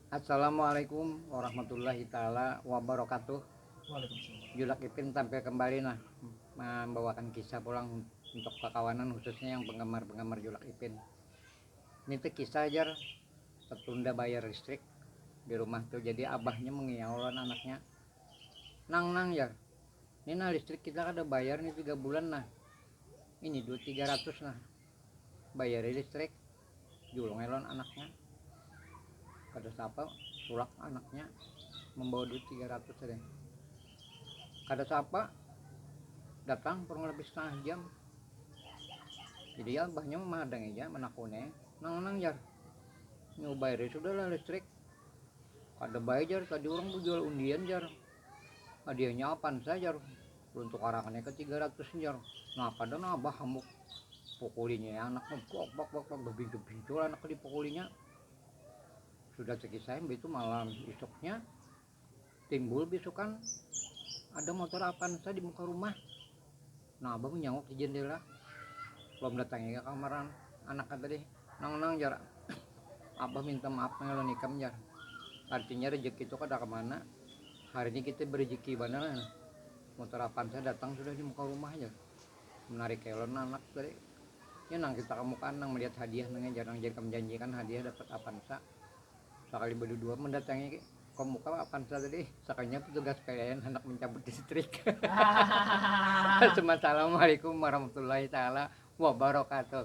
Assalamualaikum warahmatullahi taala wabarakatuh. Julak Ipin tampil kembali nah mambawakan kisah pulang untuk kakawanan khususnya yang penggemar-penggemar Julak Ipin. Nitih kisah jar tertunda bayar listrik di rumah tuh jadi abahnya mengiau lawan anaknya. Nang nang jar, ni nah listrik kita kada bayar ni tiga bulan nah. Ini duit tiga ratus nah. Bayari listrik. Julung ai lawan anaknya. Kada saapa, tulak anaknya mambawa duit tiga ratus tadi. Kada saapa, datang kurang lebih setengah jam. Jadi abahnya memahadangi aja, menakuni. Nang-nang jar, ini ubairi sudahlah listrik. Kada baik jar, tadi orang jual undian jar. Hadiahnya apa saja jar. Untuk orang ini ke tiga ratus nyer. Nah kada nah abah hamuk pukulinya ya anak bak bak bak bak bebintu bintu anak di pukulinya. Sudah terkisah itu malam isuknya timbul bisukan ada motor Avanza di muka rumah. Nah abah menyanguk di jendela. Belum datangnya ke kamaran anak tadi. Nang nang jarak. Abah minta maaf ngelonikam jar. Artinya rezeki itu kada kemana. Hari ini kita berejeki banar nah, motor Avanza datang sudah di muka rumah aja. Menarik elon anak tadi. Ya nang kita kamukaan nang melihat hadiah nangnya jarang jadi menjanjikan hadiah dapat Avanza. Sakali berdua mendatangi komuka Avanza tadi, sakalinya petugas PLN hendak mencabut listrik. Assalamualaikum warahmatullahi taala wabarakatuh.